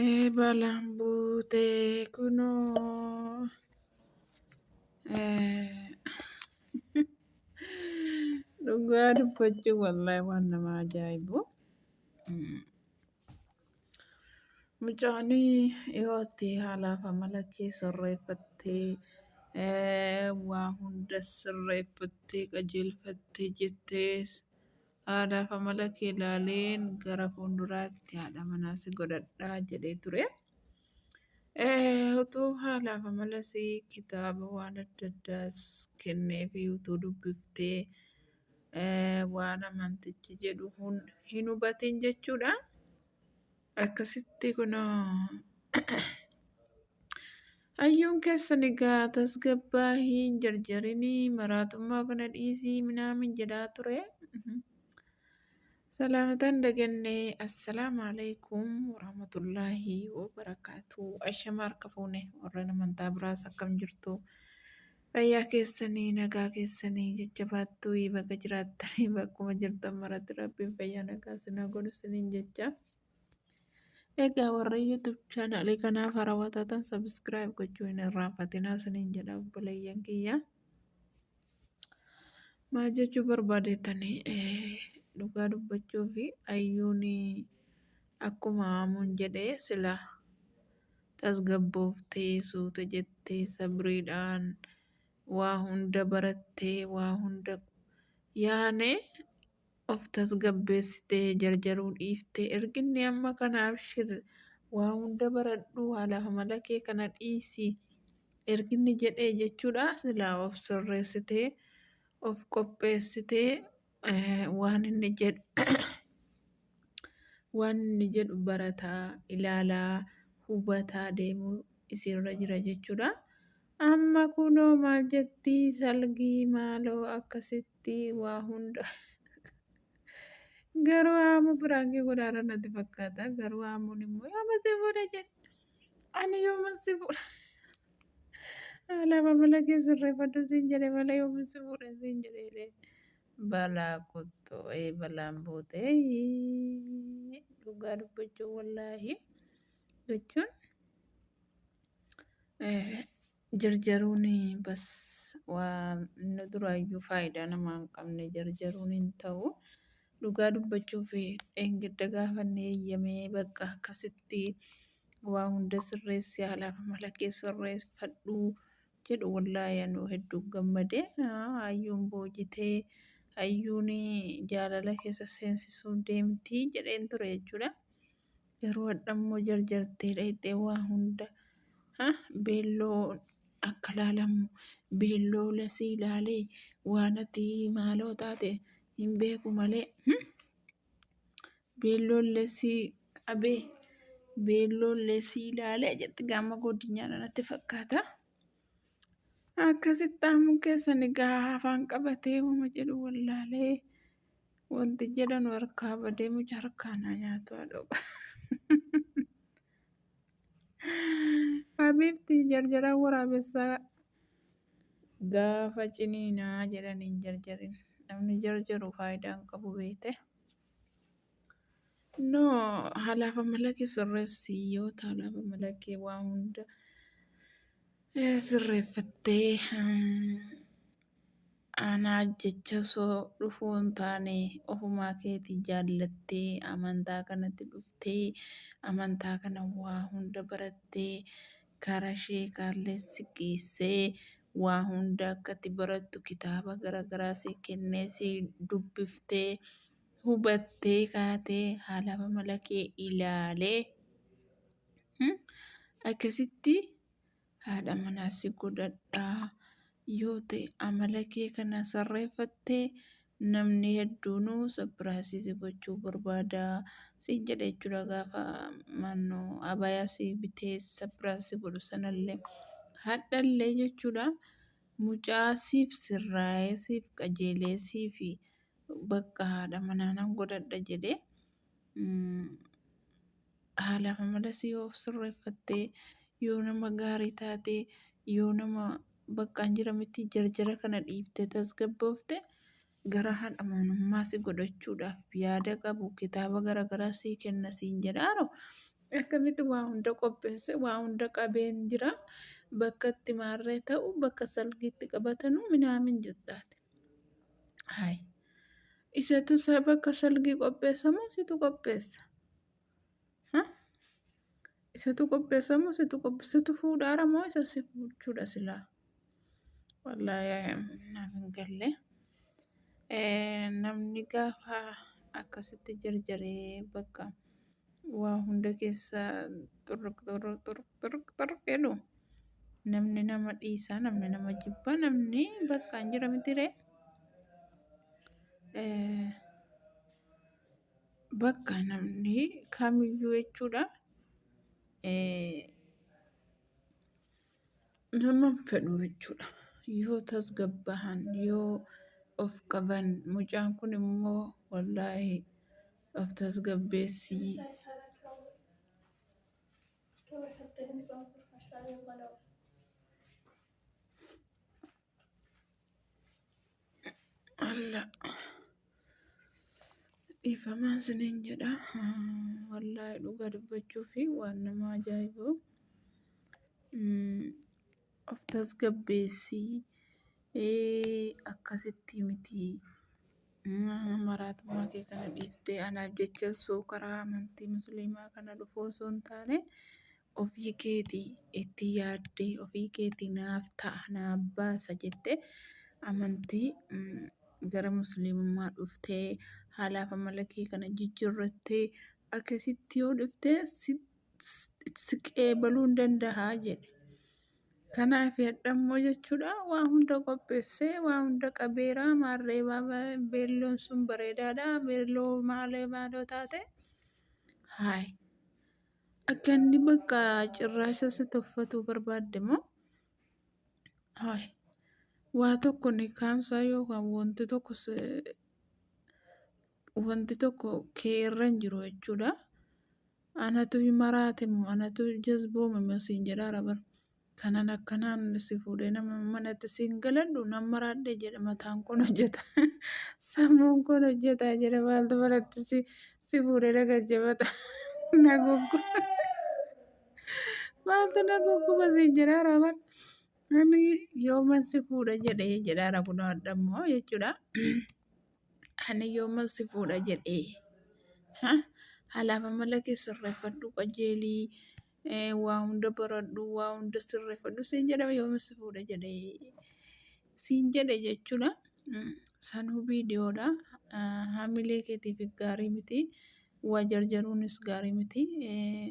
Eebalaan buutee kunoo. Dhugaa dubbachuun wallaahi waan nama ajaa'ibu. Mucaan yoo itti haalaaf amala kee sirreeffattee waa hunda sirreeffattee qajeelfattee jettee haalaaf amala kee ilaalee gara fuulduraatti haadha manaa si godhadhaa jedhee ture. Utuu haalaaf amala isii kitaaba waan adda addaas kennee fi utuu dubbiftee waan amantichi jedhu hin hubatin jechuudha. Akkasitti kunoo hayyuun keessan egaa tasgabbaa hin jarjarinii maraatummaa kana dhiisii minaamin jedhaa ture. Salaamatan daganne assalaamu alaikum warahmatullaahi wabarakaatu. Ashama harka fuune warreen amantaa biraas akkam jirtu. Fayyaa keessanii nagaa keessanii jajjabaattuu ii baga jiraattanii bakkuma jirtan maratti rabbiin fayyaa nagaa sinaa godhu siniin jecha. Egaa warra YouTube chaanaalii kanaaf harawaa taatan sabiskiraayib gochuu hin irraanfatinaa siniin jedha obboleeyyan kiyya. Maal jechuu barbaadeetanii dhugaa dubbachuu fi ayyuun akkuma aamuun jedhee silaa. tasgabbooftee suuta jettee sabriidhaan waa hunda barattee waa hunda yaane of tasgabbeessitee jarjaruu dhiiftee erginni amma kana abshir waa hunda baradhuu haalaaf amala kee kana dhiisi erginni jedhee jechuudha silaa of sirreessitee of qopheessitee Eh, waan inni jedhu waan inni jedhu barataa ilaalaa hubataa deemuu isinirra jira jechuudha. Amma kunoo maal jetti salgii maaloo akkasitti waa hunda garuu aamu biraankii godhaara natti fakkaata garuu aamuun immoo yooma si fuudha jedhe. Ani yooman si fuudha. Haala mamala kee sirreeffadhu siin jedhe malee yooman si fuudha siin jedhe. Balaa kuttu ee balaan buute dhugaa dubbachuu wallaahi jechuun. Jarjaruun bas waan duraayyuu faayidaa namaa hin qabne jarjaruun hin ta'u. Dhugaa dubbachuuf dheengadda gaafanne eeyyamee bakka akkasitti waa hunda sirreessi haalaaf amala kee sirreeffadhu jedhu wallaahi anuu hedduu gammade. Hayyuun boojitee hayyuun jaalala keessa seensisuuf deemti jedheen ture jechuudha. Garuu hadha immoo jarjartee dhayxee waa hunda ha beelloo akka laalamu beelloo lasii ilaalee waanati maaloo taate hin beeku malee hmm? beelloon lesii qabee beelloon lesii ilaalee jetti gaama godinyaadha natti fakkaata. Akkasitti aamuun keessan egaa afaan qabatee wama jedhu wallaalee Wanti jedhanu harkaa badee muca harkaa naa nyaatu haadha oba. Habiibti jarjaraa waraabessaa gaafa ciniinaa jedhanii hin jarjarin. Namni jarjaru faayidaa hin qabu beekte. No halaaf amalakee sirreessi yoo ta'e halaaf amalakee waa hunda eh, sirreeffattee. mm, Anaa jecha osoo dhufuu hin taane ofumaa keetii jaallattee amantaa kanatti dhuftee amantaa kana waa hunda barattee karaa sheekaallee si geessee waa hunda akka itti barattu kitaaba garaagaraa si kennee si dubbiftee hubattee kaatee haala amala kee ilaalee hmm, akkasitti Haadha manaa si godhadhaa yoo ta'e amala kee kana sarreeffatte namni hedduunuu sappiraasii si gochuu barbaada siin jedha jechuudha gaafa maannoo abayaa si bitee sappiraas si godhu sanallee hadhallee jechuudha mucaa siif sirraa'ee siif qajeelee siifi bakka haadha manaa nan godhadha jedhee haalaaf amalas yoo of sirreeffattee yoo nama gaarii taatee yoo nama baqqaan jira miti jarjara kana dhiifte tasgabboofte gara haadha amanummaa si godhachuudhaaf yaada qabu kitaaba garaagaraa sii kenna siin jedhaaro akkamitti waa hunda qopheesse waa hunda qabeen jira bakka itti maarree ta'u bakka salgiitti qabatanu minaamin jettaati. Hai. Isatu bakka salgii qopheessa moo situ qopheessa? Ha? Isatu qopheessa moo situ qopheessa? Situ fuudhaara moo isa si fuuchuudha silaa? Wallaahi naaf hin galle. Namni gaafa akkasitti jarjaree bakka waa hunda keessa xurruq xurruq xurruq xurruq xurruq jedhu namni nama dhiisaa namni nama jibba namni bakka hin jira mitiree bakka namni kamiyyuu jechuudha nama hin fedhu jechuudha yoo tasgabbahan yoo of qaban mucaan kun immoo wallaahi Of tasgabbeessi. Alla dhiifamaan siniin jedha. Wallaahi dhugaa dubbachuu fi waan nama ajaa'ibu. Of tasgabbeessi. Akkasitti miti. Maraatummaa kee kana dhiiftee anaaf jecha osoo karaa amantii musliimaa kana dhufuu osoo hin taane ofii keetii itti yaaddee ofii keetii naaf ta'a naaf baasa jettee amantii gara musliimummaa dhuftee haalaaf amala kee kana jijjiirrattee akkasitti yoo dhuftee sitti siqeebaluu hin danda'a jedhe. Kanaaf hadhammoo jechuudha waa hunda qopheessee waa hunda qabeera maarree beelloon sun bareedaadha beelloo maalee maaloo taate haay akka inni bakka cirraasha si tuffatuu barbaadde moo haay waa tokko ni kaamsaa yookaan wanti tokko wanti tokko kee irra hin jiru jechuudha. Anatu maraate moo anatu jazboome moo siin jedhaara bar. Kanan akkanaan si fuudhee nama manatti siin galadhu nan maraadhe jedha mataan kun hojjeta. Sammuun kun hojjeta jedha maaltu manatti si si fuudhee na gajjabata. Na guggu. Maaltu na gugguba siin jedhaara bar. Ani yooman si fuudha jedhee jedhaara kun hadhammoo jechuudha. Ani yooma si fuudha jedhee. Ha? Halaaf amala kee sirreeffadhu qajeelii eh, waa hunda baradhu waa hunda sirreeffadhu siin jedhama yooma si fuudha jedhee. Siin jedhe jechuudha. Mm, Sanuu viidiyoodha. Ah, Hamilee keetiif gaarii miti. Waa jarjaruunis gaarii miti. Eh,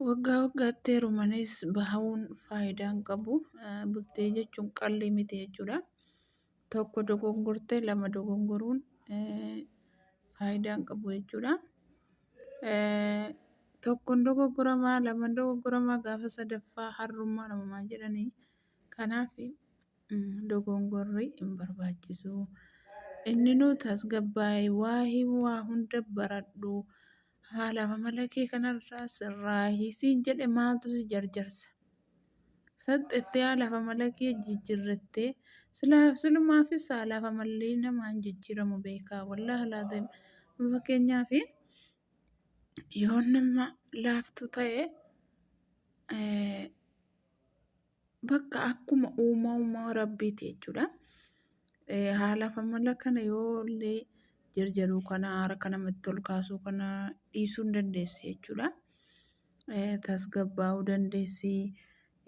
Waggaa waggaatti heerumanis bahuun faayidaa hin qabu. Eh, Bultee jechuun qalli miti jechuudha. tokko dogongortee lama dogongoruun faayidaa hin qabu jechuudha. Tokkon dogoggoramaa laman dogoggoramaa gaafa sadaffaa harrummaa namumaa jedhanii kanaaf dogongorri hin barbaachisu. Inni nu tasgabbaa'e waa hima waa hunda baradhu. Haala amala kee kanarraa sirraahi siin jedhe maaltu si jarjarsa? Saxxettee haalaaf amala kee jijjiirrattee silaaf silumaafis haalaaf amalli namaan jijjiiramu beekaa wallaahi laaziim. Fakkeenyaaf yoo nama laaftuu ta'e eh, bakka akkuma uumama rabbiiti jechuudha. Eh, Haala famala kana yoo illee jarjaruu kana harka namatti ol kaasuu kana dhiisuu hin dandeessi jechuudha. Eh, Tasgabbaa'uu dandeessi.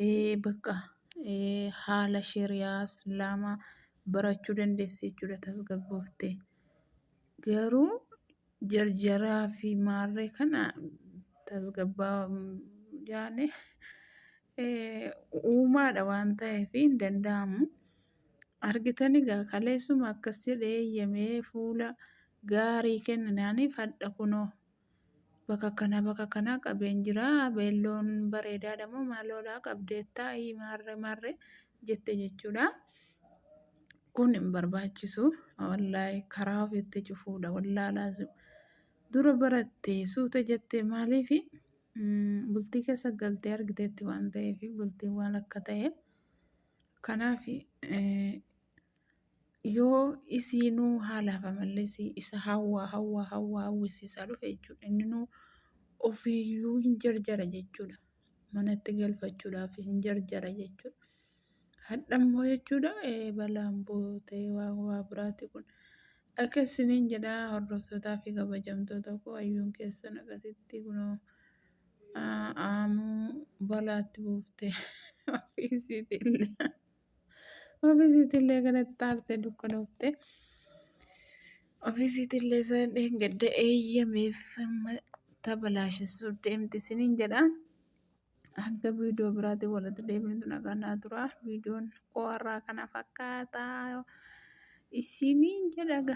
Eh, Bakka eh, haala shari'aa islaamaa barachuu dandeessi jechuudha tasgabbooftee. Garuu jarjaraa fi maarree kana tasgabbaa jaane uumaadha waan ta'eef hin danda'amu. Argitani gaa kaleessuma akkas jedhee eeyyamee fuula gaarii kenninaaniif hadha kunoo bakka kana bakka kanaa qabeen jira beelloon bareedaadha moo maaloodha qabdeettaa maarree maarree jette jechuudha. Kun hin barbaachisu. Wallaahi karaa ofiitti cufuudha. Wallaalaa dura barattee suuta jettee maaliif bultii keessa galtee argiteetti waan ta'eef bultiin waan akka ta'e. Kanaaf yoo isiinuu haalaaf amallis isa hawwaa hawwaa hawwaa hawwisiisaa dhufe jechuudha. Inninuu ofiiyyuu hin jarjara jechuudha. manatti galfachuudhaaf hin jarjara jechuudha. Hadha immoo jechuudha balaan buutee waa waa biraati kun. Akka isiniin jedhaa hordoftootaa fi kabajamtoota koo ayyuun keessan akkasitti kunoo aamuu balaatti buuftee ofiisiitillee. Ofiisiitillee kanatti taarte dukkanoofte. Ofiisiitillee sana dheengadda eeyyameef tabalaashessuu deemti isiniin jedha. Hanga viidiyoo biraatiin walitti deebinutu nagaa naa tura. Viidiyoon qo'arraa kana fakkaata isiniin jedhaga.